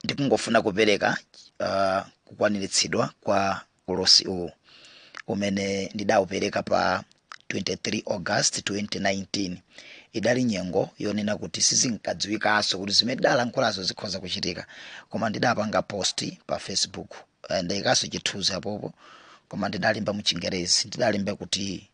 ndikungofuna kupereka uh, kukwaniritsidwa kwa ulosi uwu umene ndidawupereka pa 23 august 2019 idali nyengo yonena kuti sizinkadziwikanso kuti zimene ndidalankhulazo zikhoza kuchitika koma ndidapanga post pa facebook eh, ndaikanso chithunzi apopo koma ndidalemba muchingerezi ndidalemba kuti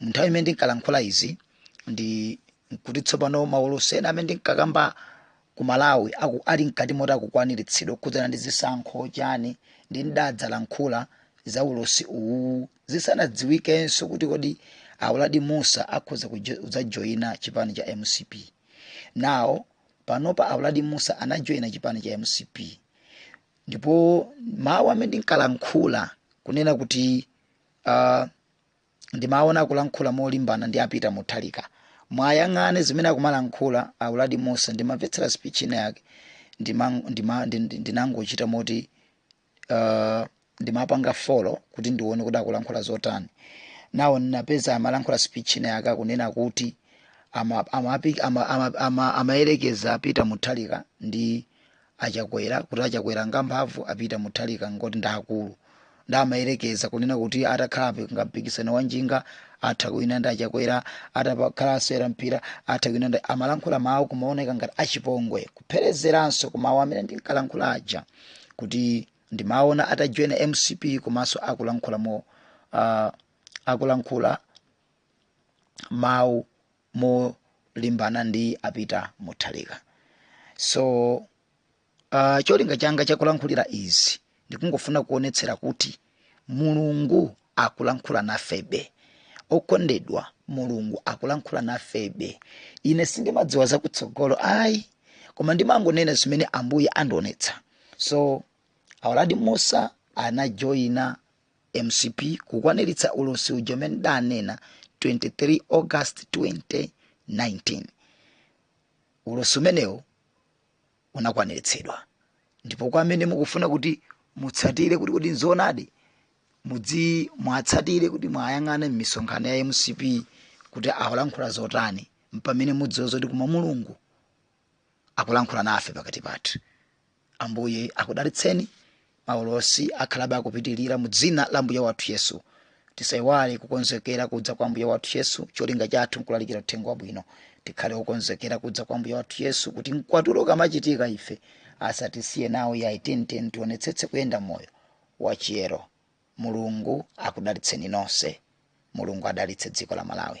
Munthawi imene ndinkalankhula izi ndi nkuti tsopano maulosi ena amene ndinkakamba ku Malawi aku, ali mkati moti akukwaniritsidwa kukhudzana ndi zisankho chani ndi ndidadzalankhula za ulosi uwuwu zisanadziwikenso kuti kodi a Uladi Mussa akhoza kudzajoina chipani cha mcp. Now panopa a Uladi Mussa anajoyina chipani cha mcp ndipo mawu amene ndinkalankhula kunena kuti uh, ndimaona akulankhula molimbana ndi a peter mutharika mwayang'ane zimene akumalankhula a uladi mussa ndimamvetsera speech ina yake ndima- ndima- ndi- ndi- ndinangochita moti uh, ndimapanga follow kuti ndione kuti akulankhula zotani now ndinapeza amalankhula speech ina yake akunena kuti amayerekeza ama, ama, ama, ama amayerekeza a peter mutharika ndi a chakwera kuti a chakwera ngamphamvu a peter mutharika ngoti ndaakulu nde amayerekeza kunena kuti atakhala ngampikisano wa njinga atha kuwina ndi a chakwera atakhala asewera mpira atha kuwina ndi amalankhula mawu kumaoneka ngati achipongwe kupherezeranso kumawu amene ndinkalankhula aja kuti ndimaona atajoyina mcp komanso akulankhula mo uh, akulankhula mawu molimbana ndi a peter mutharika so uh, cholinga changa chakulankhulira izi ndikungofuna kuonetsera kuti mulungu akulankhula nafebe okondedwa mulungu akulankhula nafebe ine sindimadziwa zakutsogolo ayi koma ndimangonena zimene ambuye andionetsa so a uladi mussa anajoyina mcp kukwaniritsa ulosi uja umene ndidanena 23 august 2019 ulosi umenewo unakwaniritsidwa ndipo kwa amene mukufuna kuti mutsatire kuti kodi nzoonadi mudzi- muwatsatire kuti mwayang'ane m'misonkhano ya mcp kuti akulankhula zotani mpamene mudziwe zoti koma mulungu akulankhula nafe pakati pathu ambuye akudalitseni maulosi akhalabe akupitirira mu dzina la ambuye wathu yesu tisayiwale kukonzekera kudza kwa ambuye wathu yesu cholinga chathu nkulalikira uthenga wabwino tikhale okonzekera kudza kwa ambuye wathu yesu kuti mkwatulo ukamachitika ife asatisiye nawo ayi nde tionetsetse kuyenda moyo wachiyero mulungu akudalitseni nonse mulungu adalitse dziko la malawi